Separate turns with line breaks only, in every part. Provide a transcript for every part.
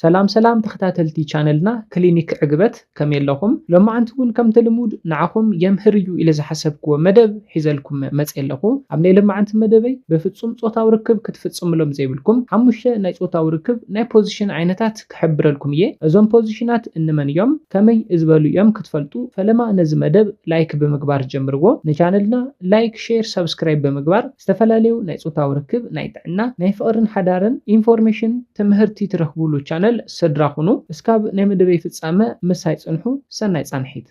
ሰላም ሰላም ተከታተልቲ ቻነልና ክሊኒክ ዕግበት ከመይ ኣለኹም ሎማዓንቲ ውን ከምቲ ልሙድ ንዓኹም የምህር እዩ ኢለ ዝሓሰብክዎ መደብ ሒዘልኩም መጼ ኣለኹ ኣብ ናይ ለማዓንቲ መደበይ በፍጹም ጾታዊ ርክብ ክትፍጽምሎም ዘይብልኩም ሓሙሽተ ናይ ጾታዊ ርክብ ናይ ፖዚሽን ዓይነታት ክሕብረልኩም እየ እዞም ፖዚሽናት እንመን እዮም ከመይ ዝበሉ እዮም ክትፈልጡ ፈለማ ነዚ መደብ ላይክ ብምግባር ጀምርዎ ንቻነልና ላይክ ሼር ሳብስክራይብ ብምግባር ዝተፈላለዩ ናይ ፆታዊ ርክብ፣ ናይ ጥዕና፣ ናይ ፍቕርን ሓዳርን ኢንፎርሜሽን፣ ትምህርቲ ትረኽቡሉ ቻነል ስድራ ኹኑ። እስካብ ናይ መደበይ ፍፃመ ምሳይ ፅንሑ። ሰናይ ፃንሒት።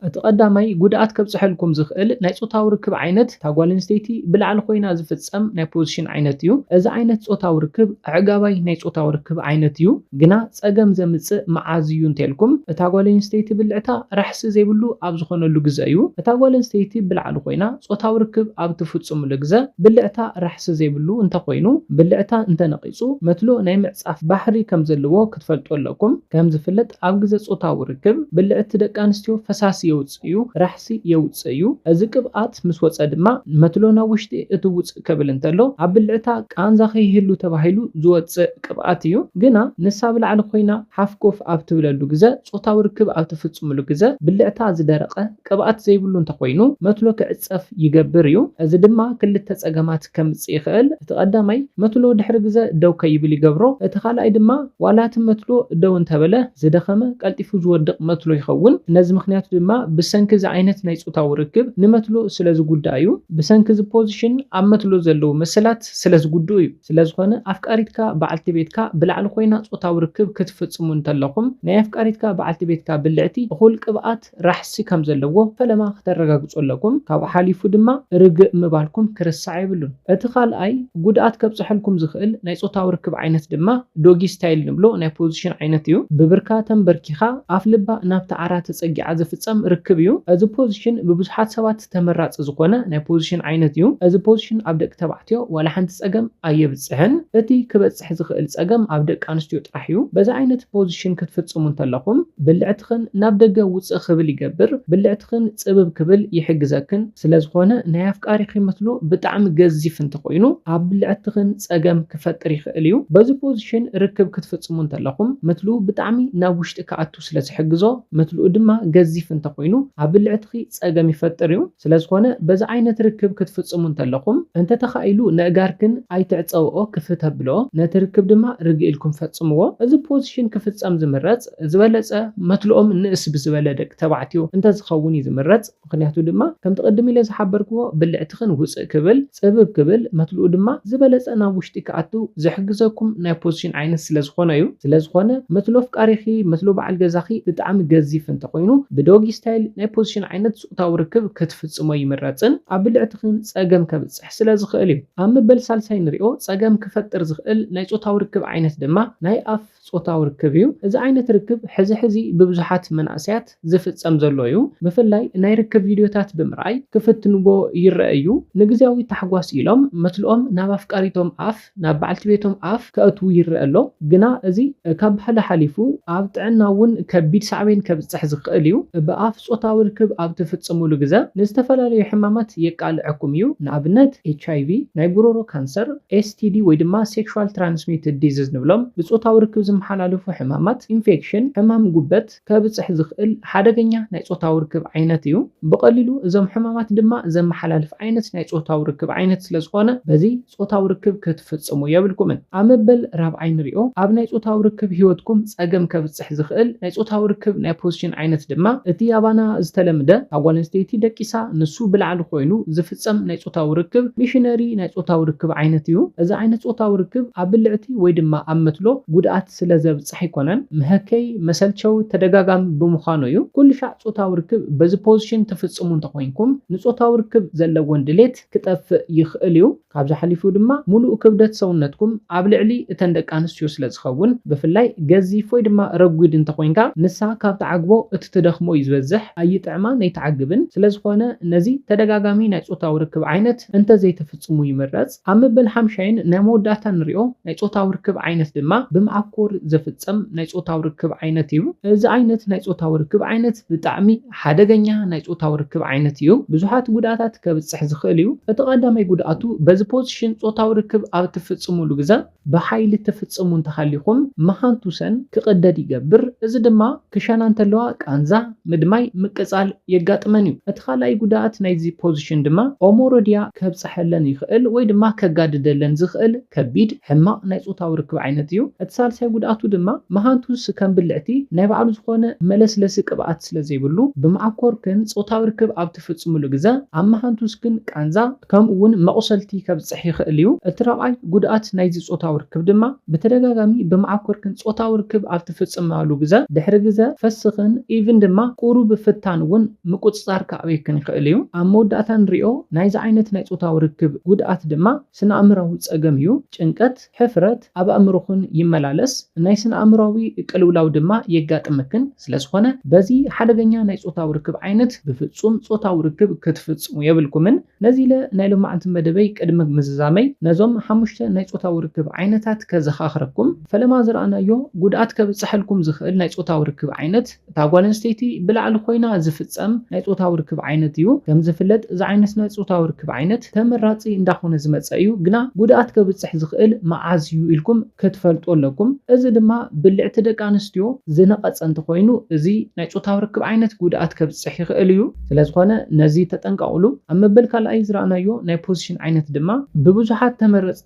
እቲ ቀዳማይ ጉድኣት ከብፀሐልኩም ዝኽእል ናይ ፆታዊ ርክብ ዓይነት እታ ጓል ኣንስተይቲ ብላዕሊ ኾይና ዝፍፀም ናይ ፖዝሽን ዓይነት እዩ። እዚ ዓይነት ፆታዊ ርክብ ኣዕጋባይ ናይ ፆታዊ ርክብ ዓይነት እዩ። ግና ፀገም ዘምፅእ መዓዝ እዩ እንተልኩም እታ ጓል ኣንስተይቲ ብልዕታ ራሕሲ ዘይብሉ ኣብ ዝኾነሉ ግዘ እዩ። እታ ጓል ኣንስተይቲ ብላዕሊ ኾይና ጾታዊ ርክብ ኣብ ትፍጽምሉ ግዘ ብልዕታ ራሕሲ ዘይብሉ እንተኾይኑ፣ ብልዕታ እንተነቒጹ መትሎ ናይ ምዕጻፍ ባህሪ ከምዘለዎ ክትፈልጡ ኣለኩም። ከምዝፍለጥ ኣብ ግዘ ጾታዊ ርክብ ብልዕቲ ደቂ ኣንስትዮ ፈሳሲ የውጽእ እዩ፣ ራሕሲ የውጽእ እዩ። እዚ ቅብኣት ምስ ወጸ ድማ መትሎ ናብ ውሽጢ እቲ ውጽእ ከብል እንተሎ ኣብ ብልዕታ ቃንዛ ከይህሉ ተባሂሉ ዝወጽእ ቅብኣት እዩ። ግና ንሳ ኣብ ላዕሊ ኮይና ሓፍ ኮፍ ኣብ ትብለሉ ግዘ ጾታዊ ርክብ ኣብ ትፍጽምሉ ግዘ ብልዕታ ዝደረቐ ቅብኣት ዘይብሉ እንተኾይኑ መትሎ ክዕጸፍ ይገብር እዩ። እዚ ድማ ክልተ ጸገማት ከምጽእ ይኽእል፣ እቲ ቀዳማይ መትሎ ድሕሪ ግዘ ደው ከይብል ይገብሮ፣ እቲ ካልኣይ ድማ ዋላ እቲ መትሎ ደው እንተበለ ዝደኸመ ቀልጢፉ ዝወድቕ መትሎ ይኸውን። ነዚ ምኽንያቱ ድማ ብሰንኪ እዚ ዓይነት ናይ ጾታዊ ርክብ ንመትሎ ስለዝጉዳእ እዩ። ብሰንኪ እዚ ፖዚሽን ኣብ መትሎ ዘለዉ መሰላት ስለዝጉድኡ እዩ። ስለዝኾነ ኣፍቃሪትካ በዓልቲ ቤትካ ብላዕሊ ኮይና ጾታዊ ርክብ ክትፍጽሙ እንተለኹም ናይ ኣፍቃሪትካ በዓልቲ ቤትካ ብልዕቲ እኹል ቅብኣት፣ ራሕሲ ከም ዘለዎ ፈለማ ክተረጋግጹ ኣለኩም ካብኡ ሓሊፉ ድማ ርግእ ምባልኩም ክርሳዕ የብሉን እቲ ካልኣይ ጉድኣት ከብጽሐልኩም ዝኽእል ናይ ጾታዊ ርክብ ዓይነት ድማ ዶጊ ስታይል ንብሎ ናይ ፖዚሽን ዓይነት እዩ ብብርካ ተምበርኪኻ ኣፍልባ ናብቲ ዓራት ተጸጊዓ ዝፍጸም ርክብ እዩ እዚ ፖዚሽን ብብዙሓት ሰባት ተመራጺ ዝኾነ ናይ ፖዚሽን ዓይነት እዩ እዚ ፖዚሽን ኣብ ደቂ ተባዕትዮ ዋላ ሓንቲ ጸገም ኣየብጽሕን እቲ ክበጽሕ ክበፅሕ ዝኽእል ፀገም ኣብ ደቂ ኣንስትዮ ጥራሕ እዩ። በዚ ዓይነት ፖዚሽን ክትፍፅሙ እንተለኹም ብልዕትኽን ናብ ደገ ውፅእ ክብል ይገብር፣ ብልዕትኽን ፅብብ ክብል ይሕግዘክን። ስለዝኾነ ናይ ኣፍቃሪኺ ምትሉ ብጣዕሚ ገዚፍ እንተኾይኑ ኣብ ብልዕትኽን ፀገም ክፈጥር ይኽእል እዩ። በዚ ፖዚሽን ርክብ ክትፍፅሙ እንተለኹም ምትሉ ብጣዕሚ ናብ ውሽጢ ክኣቱ ክኣቱ ስለ ዝሕግዞ፣ መትልኡ ድማ ገዚፍ እንተ ኹይኑ ኣብ ብልዕትኺ ጸገም ይፈጥር እዩ። ስለ ዝኾነ በዚ ዓይነት ርክብ ክትፍጽሙ እንተለኹም፣ እንተ ተኻኢሉ ነእጋርክን ኣይትዕጸውኦ ክፍት ኣብልኦ፣ ነቲ ርክብ ድማ ርግእ ኢልኩም ፈጽምዎ። እዚ ፖዚሽን ክፍጸም ዝምረጽ ዝበለጸ መትልኦም ንእስ ብዝበለ ደቂ ተባዕትዮ እንተ ዝኸውን እዩ ዝምረጽ። ምኽንያቱ ድማ ከምቲ ቅድም ኢለ ዝሓበርክዎ ብልዕትኽን ውጽእ ክብል፣ ጽብብ ክብል፣ መትልኡ ድማ ዝበለጸ ናብ ውሽጢ ክኣቱ ዝሕግዘኩም ናይ ፖዝሽን ዓይነት ስለ ዝኾነ እዩ። ስለ ዝኾነ መትሎ ኣፍቃሪኺ፣ መትሎ በዓል ገዛኺ ብጣዕሚ ገዚፍ እንተ ኾይኑ ብዶጊ ስታይል ናይ ፖዝሽን ዓይነት ጾታዊ ርክብ ክትፍጽሞ ይምረጽን ኣብ ብልዕትኽን ጸገም ከብጽሕ ስለ ዝኽእል እዩ። ኣብ መበል ሳልሳይ ንሪኦ ጸገም ክፈጥር ዝኽእል ናይ ጾታዊ ርክብ ዓይነት ድማ ናይ ኣፍ ጾታዊ ርክብ እዩ። እዚ ዓይነት ርክብ ሕዚ ሕዚ ብብዙሓት መናእሰያት ዝፍጸም ዘሎ እዩ። ብፍላይ ናይ ርክብ ቪድዮታት ብምርኣይ ክፍትንዎ ይረኣ እዩ። ንግዝያዊ ታሕጓስ ኢሎም መትልኦም ናብ ኣፍቃሪቶም ኣፍ፣ ናብ በዓልቲ ቤቶም ኣፍ ከእትዉ ይረኣ ኣሎ። ግና እዚ ካብ ባህሊ ሓሊፉ ኣብ ጥዕና እውን ከቢድ ሳዕቤን ከብጽሕ ዝኸእል እዩ። ብኣፍ ጾታዊ ርክብ ኣብ ትፍጽሙሉ ግዘ ንዝተፈላለዩ ሕማማት የቃልዐኩም እዩ። ንኣብነት ኤችኣይቪ፣ ናይ ጉሮሮ ካንሰር፣ ኤስቲዲ ወይ ድማ ሴክሹዋል ትራንስሚትድ ዲዝዝ ንብሎም ብጾታዊ ርክብ ዝመሓላለፉ ሕማማት፣ ኢንፌክሽን፣ ሕማም ጉበት፣ ከብጽሕ ዝኽእል ሓደገኛ ናይ ጾታዊ ርክብ ዓይነት እዩ። ብቐሊሉ እዞም ሕማማት ድማ ዘመሓላልፍ ዓይነት ናይ ጾታዊ ርክብ ዓይነት ስለ ዝኾነ በዚ ጾታዊ ርክብ ክትፍጽሙ የብልኩምን። ኣብ መበል ራብዓይ ንሪኦ ኣብ ናይ ጾታዊ ርክብ ህይወትኩም ጸገም ከብጽሕ ከብጽሕ ዝኽእል ናይ ጾታዊ ርክብ ናይ ፖዚሽን ዓይነት ድማ እቲ ኣባና ዝተለምደ እታ ጓል ኣንስተይቲ ደቂሳ ንሱ ብላዕሊ ኮይኑ ዝፍጸም ናይ ጾታዊ ርክብ ሚሽነሪ ናይ ጾታዊ ርክብ ዓይነት እዩ። እዚ ዓይነት ጾታዊ ርክብ ኣብ ብልዕቲ ወይ ድማ ኣብ መትሎ ጉድኣት ስለ ዘብጽሕ ኣይኮነን። መሀከዪ፣ መሰልቸዊ፣ ተደጋጋሚ ብምዃኑ እዩ። ኩልሻዕ ጾታዊ ርክብ በዚ ፖዚሽን ትፍጽሙ እንተኾይንኩም ንጾታዊ ርክብ ዘለወን ድሌት ክጠፍእ ይኽእል እዩ። ካብዚ ሓሊፉ ድማ ሙሉእ ክብደት ሰውነትኩም ኣብ ልዕሊ እተን ደቂ ኣንስትዮ ስለ ዝኸውን ብፍላይ ገዚፍ ወይ ድማ ረጒድ እንተኾይንካ ንሳ ካብ ትዓግቦ እቲ ትደኽሞ እዩ ዝበዝሕ ኣይጥዕማን ኣይትዓግብን ስለዝኾነ ነዚ ተደጋጋሚ ናይ ፆታዊ ርክብ ዓይነት እንተዘይተፍፅሙ ይምረፅ ኣብ መበል ሓምሻይን ናይ መወዳእታ ንሪኦ ናይ ፆታዊ ርክብ ዓይነት ድማ ብምዓኮር ዘፍፀም ናይ ፆታዊ ርክብ ዓይነት እዩ እዚ ዓይነት ናይ ፆታዊ ርክብ ዓይነት ብጣዕሚ ሓደገኛ ናይ ጾታዊ ርክብ ዓይነት እዩ፣ ብዙሓት ጉድኣታት ከብጽሕ ዝኽእል እዩ። እቲ ቀዳማይ ጉድኣቱ፣ በዚ ፖዚሽን ጾታዊ ርክብ ኣብ እትፍጽሙሉ ግዘ ብሓይሊ እትፍጽሙ እንተሃሊኹም፣ መሃንቱሰን ክቕደድ ይገብር፣ እዚ ድማ ክሸና እንተለዋ ቃንዛ፣ ምድማይ፣ ምቅጻል የጋጥመን እዩ። እቲ ካልኣይ ጉድኣት ናይዚ ፖዚሽን ድማ ኦሞሮዲያ ከብጽሐለን ይኽእል ወይ ድማ ከጋድደለን ዝኽእል፣ ከቢድ ሕማቕ ናይ ጾታዊ ርክብ ዓይነት እዩ። እቲ ሳልሳይ ጉድኣቱ ድማ መሃንቱስ ከም ብልዕቲ ናይ ባዕሉ ዝኾነ መለስለሲ ቅብኣት ስለ ዘይብሉ ብመዓኮርክን ጾታዊ ርክብ ኣብ ትፍጽምሉ ግዘ ኣብ መሃንቱስክን ቃንዛ ከምኡ ውን መቑሰልቲ ከብጽሕ ይኽእል እዩ። እቲ ራብዓይ ጉድኣት ናይዚ ጾታዊ ርክብ ድማ ብተደጋጋሚ ብመዓኮርክን ጾታዊ ርክብ ኣብ ትፍጽማሉ ግዘ ድሕሪ ግዘ ፈስኽን ኢቭን ድማ ቁሩብ ፍታን ውን ምቁጽጻር ክኣብየክን ይኽእል እዩ። ኣብ መወዳእታ ንሪኦ ናይዚ ዓይነት ናይ ጾታዊ ርክብ ጉድኣት ድማ። ስነኣእምራዊ ጸገም እዩ። ጭንቀት፣ ሕፍረት፣ ኣብ ኣእምሮኽን ይመላለስ፣ ናይ ስነኣእምራዊ ቅልውላው ድማ የጋጥመክን፣ ስለዝኾነ በዚ ሓደገኛ ናይ ጾታዊ ርክብ ዓይነት ብፍጹም ጾታዊ ርክብ ክትፍጽሙ የብልኩምን። ነዚለ ናይ ሎማዕንቲ መደበይ ቅድሚ ምዝዛመይ ነዞም ሓሙሽተ ናይ ጾታዊ ርክብ ዓይነታት ከዘኻኽረኩም። ፈለማ ዝረኣናዮ ጉድኣት ከብጸሐልኩም ዝኽእል ናይ ጾታዊ ርክብ ዓይነት። እታ ጓል ኣንስተይቲ ብላዕሊ ኮይና ዝፍጸም ናይ ጾታዊ ርክብ ዓይነት እዩ። ከም ዝፍለጥ እዚ ዓይነት ናይ ጾታዊ ርክብ ዓይነት ተመራጺ እንዳኾነ ዝመጸ እዩ፣ ግና ጉድኣት ከብጽሕ ዝኽእል መዓዝ እዩ ኢልኩም ክትፈልጡ ኣለኩም። እዚ ድማ ብልዕቲ ደቂ ኣንስትዮ ዝነቐጸ እንተኾይኑ እዚ ናይ ጾታዊ ርክብ ዓይነት ጉድኣት ከብጽሕ ይኽእል እዩ። ስለዝኾነ ነዚ ተጠንቀቕሉ። ኣብ መበል ካልኣይ ዝረኣናዮ ናይ ፖዚሽን ዓይነት ድማ ብብዙሓት ተመረጽቲ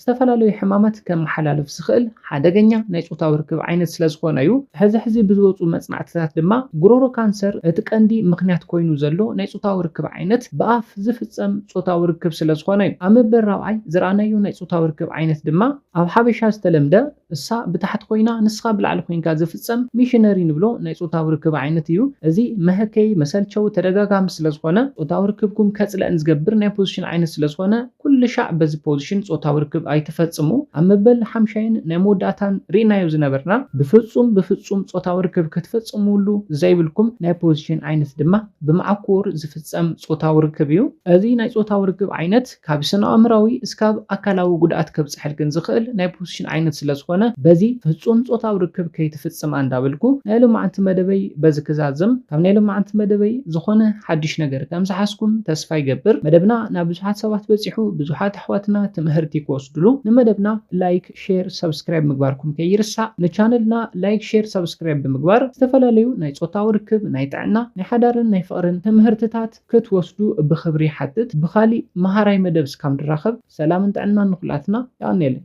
ዝተፈላለዩ ሕማማት ከመሓላልፍ ዝኽእል ሓደገኛ ናይ ጾታዊ ርክብ ዓይነት ስለ ዝኾነ'ዩ። ሕዚ ሕዚ ብዝወጹ መጽናዕትታት ድማ ጉሮሮ ካንሰር እቲ ቀንዲ ምኽንያት ኮይኑ ዘሎ ናይ ጾታዊ ርክብ ዓይነት ብኣፍ ዝፍጸም ጾታዊ ርክብ ስለ ዝኾነ'ዩ። ኣብ መበል ራብዓይ ዝረኣናዮ ናይ ጾታዊ ርክብ ዓይነት ድማ ኣብ ሓበሻ ዝተለምደ፣ እሳ ብታሕቲ ኮይና ንስኻ ብላዕሊ ኮይንካ ዝፍጸም ሚሽነሪ ንብሎ ናይ ጾታዊ ርክብ ዓይነት እዩ። እዚ መሀከዪ፣ መሰልቸዊ፣ ተደጋጋሚ ስለዝኾነ ጾታዊ ርክብኩም ከጽለእን ዝገብር ናይ ፖዝሽን ዓይነት ስለዝኾነ ኩልሻዕ በዚ ፖዝሽን ጾታዊ ርክብ ኣይትፈጽሙ። ኣብ መበል ሓምሻይን ናይ መወዳእታን ሪእናዮ ዝነበርና። ብፍጹም ብፍጹም ጾታዊ ርክብ ክትፍጽምሉ ዘይብልኩም ናይ ፖዝሽን ዓይነት ድማ ብማዕኮር ዝፍጸም ጾታዊ ርክብ እዩ። እዚ ናይ ጾታዊ ርክብ ዓይነት። ካብ ስነኣእምራዊ እስካብ ኣካላዊ ጉድኣት ከብፀሐልክን ዝኽእል ናይ ፖስሽን ዓይነት ስለዝኾነ በዚ ፍፁም ፆታዊ ርክብ ከይትፍፅማ እንዳበልኩ ናይ ሎማዓንቲ መደበይ በዚ ክዛዝም ካብ ናይ ሎማዓንቲ መደበይ ዝኾነ ሓዱሽ ነገር ከምዝሓዝኩም ተስፋ ይገብር መደብና ናብ ብዙሓት ሰባት በፂሑ ብዙሓት ኣሕዋትና ትምሀርቲ ክወስድሉ ንመደብና ላይክ ሼር ሰብስክራይብ ምግባርኩም ከይርሳዕ ንቻነልና ላይክ ሼር ሰብስክራይብ ብምግባር ዝተፈላለዩ ናይ ፆታዊ ርክብ ናይ ጥዕና ናይ ሓዳርን ናይ ፍቅርን ትምሀርትታት ክትወስዱ ብኽብሪ ይሓትት ብኻሊእ መሃራይ መደብ እስካብ ንራኸብ ሰላምን ጥዕናን ንኹላትና የቐንየለይ።